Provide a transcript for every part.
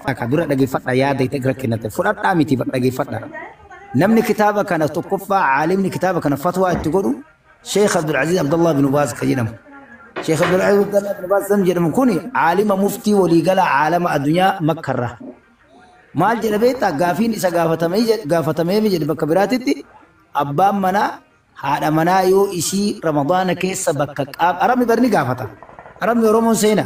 Akka dura dhageeffadha yaada itti irra kennate fudhadhaa miti bar dhageeffadha. Namni kitaaba kana tokkoffaa caalimni kitaaba kana fatwaa itti godhu Sheekh Abdulaziz Abdullah bin Baaz kan jedhamu. Sheekh Abdulaziz Abdullah bin Baaz kan jedhamu kun caalima muftii waliigala caalama addunyaa makkarra. Maal jedha beektaa gaafiin isa gaafatamee jedhe- gaafatameef jedhe bakka biraatitti abbaan manaa haadha manaa yoo isii ramadaana keessa bakka qaab arabni barni gaafata. Arabni Oromoon seena.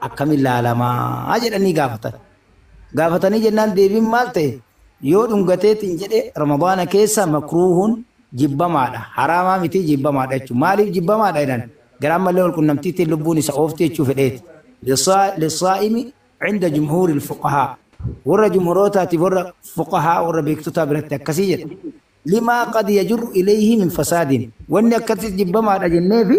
akkamiin laalamaa jedhanii gaafatan. Gaafatanii jennaan deebiin maal ta'e? Yoo dhungateetiin jedhe Ramadaana keessa makruuhun jibbamaadha. Haraamaa miti jibbamaadha jechuudha. Maaliif jibbamaadha jedhan? Garaan malee wal qunnamtiitiin lubbuun isa oofti jechuu fedheeti. Lissaa'imi cinda jumhuuril fuqahaa. Warra jumhurootaatiif warra fuqahaa warra beektotaa biratti akkasii jedha. Limaa qad yajurru ilayhi min fasaadin. Wanni akkasitti jibbamaadha jenneefi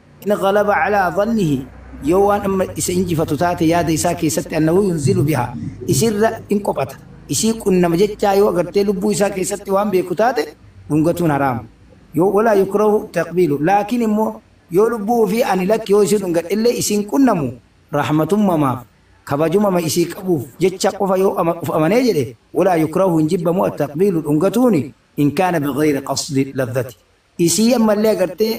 in ghalaba calaa dhannihi yoo waan amma isa injifatu taate yaada isaa keessatti annahu yunzilu bihaa isirra in qophata isii qunnama jechaa yoo agartee lubbuu isaa keessatti waan beeku taate dhungatuun haraama yoo walaa yukrahu taqbiilu laakiin immoo yoo lubbuu ofii ani lakki yoo isii dhungadhe illee isiin qunnamu rahmatummamaaf kabajumama isii qabuuf jecha qofa yoo ama- of amanee jedhe walaa yukrahu hin jibbamu attaqbiilu dhungatuuni in kaana bighayri qasdi lazzati Isii ammallee agartee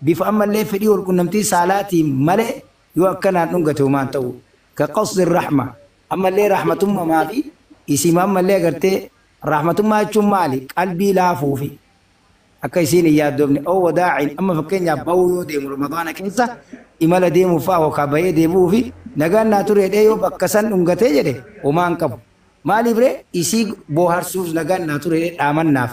bifa ammallee fedhii walqunnamtii saalaatiin malee yoo akkanaan dhungate homaan ta'uu. Ka qasdi rahma, ammallee rahmatummama fi isiima ammallee agartee rahmatummaa jechuun maali? Qalbii laafuu fi akka isiin hin yaaddoofne aw wadaa'in amma fakkeenyaaf ba'uu yoo deemu ramadaana keessa imala deemuuf fa'a yookaa ba'ee deebi'uu fi nagaan naa ture jedhee yoo bakka san dhungatee jedhe homaa hin qabu. Maaliif ree? Isii booharsuuf nagaan naa ture jedhee dhaamannaaf.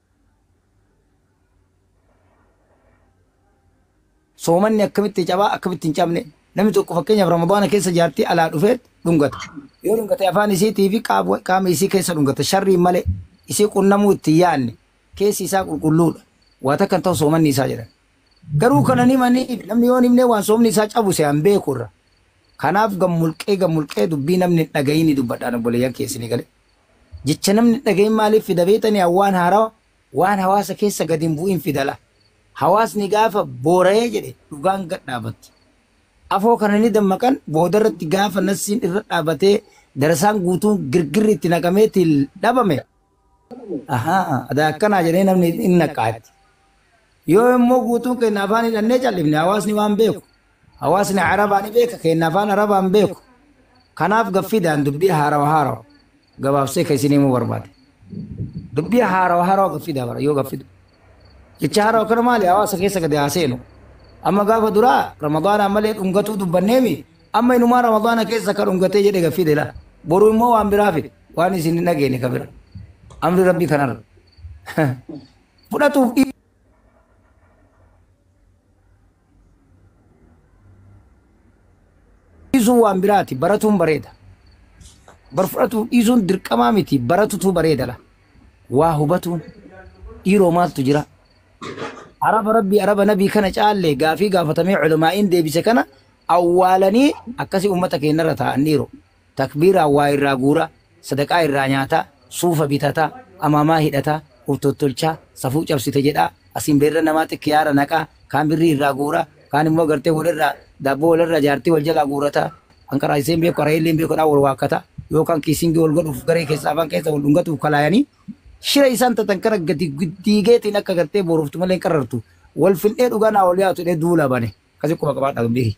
Soomanni akkamitti caba, akkamitti hin cabne? Namni tokko fakkeenyaaf Ramadaana keessa jaartii alaa dhufee dhungata. Yoo dhungate afaan isiitii fi qaab- qaama isii keessa dhungata. Sharriin malee isii qunnamuu itti hin yaadne. Keessi isaa qulqulluudha. Waa takka hin ta'u soomanni isaa jedhan. Garuu kana ni maniif namni yoo hin himne waan soomni isaa cabu se'an beeku irra. Kanaaf gammulqee gammulqee dubbii namni hin dhagayini dubbadhaan obboleeyyan keessanii galee. Jecha namni hin dhagahin maaliif fida beektanii? Waan haarawa, waan hawaasa keessa gad hin bu'in fida laa. Hawaasni gaafa boora'ee jedhe dhugaan gad dhaabatti. Afoo kana ni dammaqan, boodarratti gaafa nassiin irra dhaabatee darasaan guutuun girgirri itti naqamee til dhabame, ahaa adaa akkanaa jedhee namni hin naqqaatti. Yoo immoo guutuun keenya afaan hidhannee cal'ifne hawaasni waan beeku Hawaasni Arabaa ni beeka keenna afaan Arabaa hin beeku. Kanaaf gaffiidhaan dubbii haarawa haarawa gabaabsee kan isin himuu barbaade. Dubbii haarawa haarawa gaffiidhaa bara yoo gaffidu. Jecha haarawa kana maali hawaasa keessa gadi haa seenu. Amma gaafa duraa Ramadaanaan malee dhungatuu dubbanneemi amma inumaa Ramadaana keessa akka dhungatee jedhe gaffii dela. Boru immoo waan biraa fide waan isin hin dhageene ka bira. Amri rabbii kanarra. Fudhatuuf dhiisuun waan biraati baratuun bareeda bar fudhatuuf dhiisuun dirqamaa miti baratutu bareedadha waa hubatuun dhiiroo maaltu jira araba rabbii araba nabii kana caalle gaafii gaafatamee culamaa'iin deebise kana awwaalanii akkasii ummata keenyarra taa'an dhiiroo Takbiiraan waa irraa guura, sadaqaa irraa nyaata, suufa bitata, amaamaa hidhata, uf tottolcha, safuu cabsite jedha, asiin beerra namaatti kiyaara naqa, kaan birrii irraa guura, kaan immoo gartee wal irraa daabboo wal irraa jaartii wal jalaa guurata, kan qaraasisee hin beeku qara'ee illee hin beeku dhaan wal waakkata, yookaan kiisingii wal godhuuf garee keessaa afaan keessa wal dhungatuuf kalaayanii shira isaan xaxan kana gadi diigeetiin akka gartee booroftu malee hin qarrartu, wal findhee dhugaa naa ol yaatu jedhee duula bane. Akkasi quba qabaadhaa dubbii kiyya.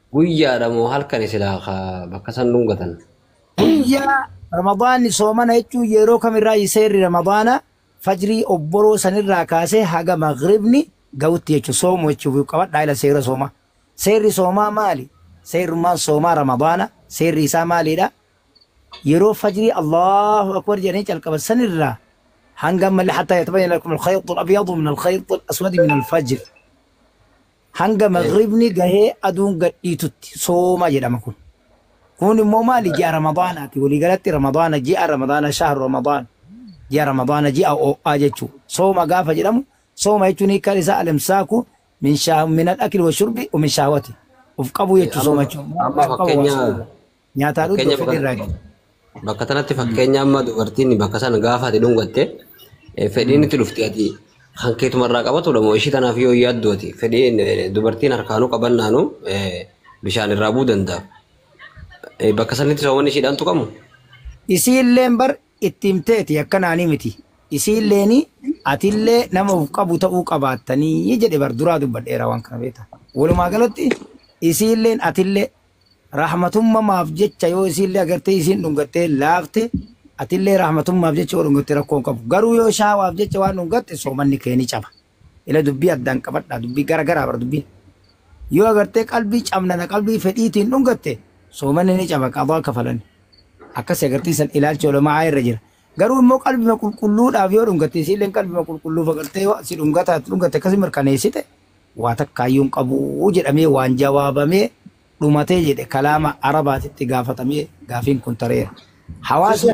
Guyyaadha moo halkani silaa ka bakka san dhungatan? Guyyaa Ramadaanni soomana jechuun yeroo kamirraa seerri Ramadaana fajrii obboroo sanirraa kaasee haga maghribni ga'utti jechuudha. Soomu jechuuf qabadhaa ila seera soomaa. Seerri soomaa maali? Seerrummaan soomaa Ramadaana seerri isaa maaliidha? Yeroo fajrii Allahu akbar jedhanii calqaban sanirraa hanga ammallee hattaa yatabayyana lakum al-khayxu al-abyadu min al-khayxi al-aswadi min al-fajr. hanga Eh. maghribni gahee aduun gadhiitutti sooma jedhama kun. Kun immoo maali ji'a ramadaanaati waliigalatti ramadaana ji'a ramadaana shahru ramadaan ji'a ramadaana ji'a oo'aa jechuu sooma gaafa jedhamu sooma jechuun hiikaan isaa alimsaaku min shaa- min al-akli wa shurbi wa min shahwati of qabuu Eh, jechuu sooma amma- jechuun amma Of qabuu waan fakkeenya sooma. Nyaataa dhugdu Fakkeenya fedhii irraa bakka- bakka tanatti fakkeenya amma dubartiin bakka sana gaafa ati dhungatte eh, fedhiin itti dhufti ati kan keetumarraa qabatudha moo ishii tanaaf yoo yaaddu ati fedhiin eh, dubartiin harkaanuu qabannaanu eh, bishaan irraa bu'uu danda'a. Eh, Bakka sanatti soowwan ishiidhaan tuqamu. isii illeen bar itti himteeti akkanaanii miti isii illeen atillee nama of qabu ta'uu qabaattanii jedhe bar duraa dubbadheera waan kana beekta walumaa galatti isii illeen atillee Rahmatummamaaf jecha yoo isiinlee agartee isiin dhungattee laafte atillee rahmatummaaf jecha yoo dhungatte rakkoo hin qabu. Garuu yoo shaawaaf jecha waan dhungatte soomanni kee ni caba. Ila dubbii addaan qabadhaa dubbii gara garaa bar dubbiin. Yoo agartee qalbii cabnana qalbii fedhiitiin dhungatte soomanni ni caba qadaa kafalanni. Akkasi agartee san ilaalchi ulama'aa irra jira. Garuu immoo qalbima qulqulluudhaaf yoo dhungatte isiilleen qalbima qulqulluuf agartee yoo si dhungataa dhungatte akkasi mirkaneessite waa takkaayyuu hin qabu jedhamee waan jawaabamee dhumatee jedhe kalaama Arabaatitti gaafatamee gaafiin kun tareera. Hawaasni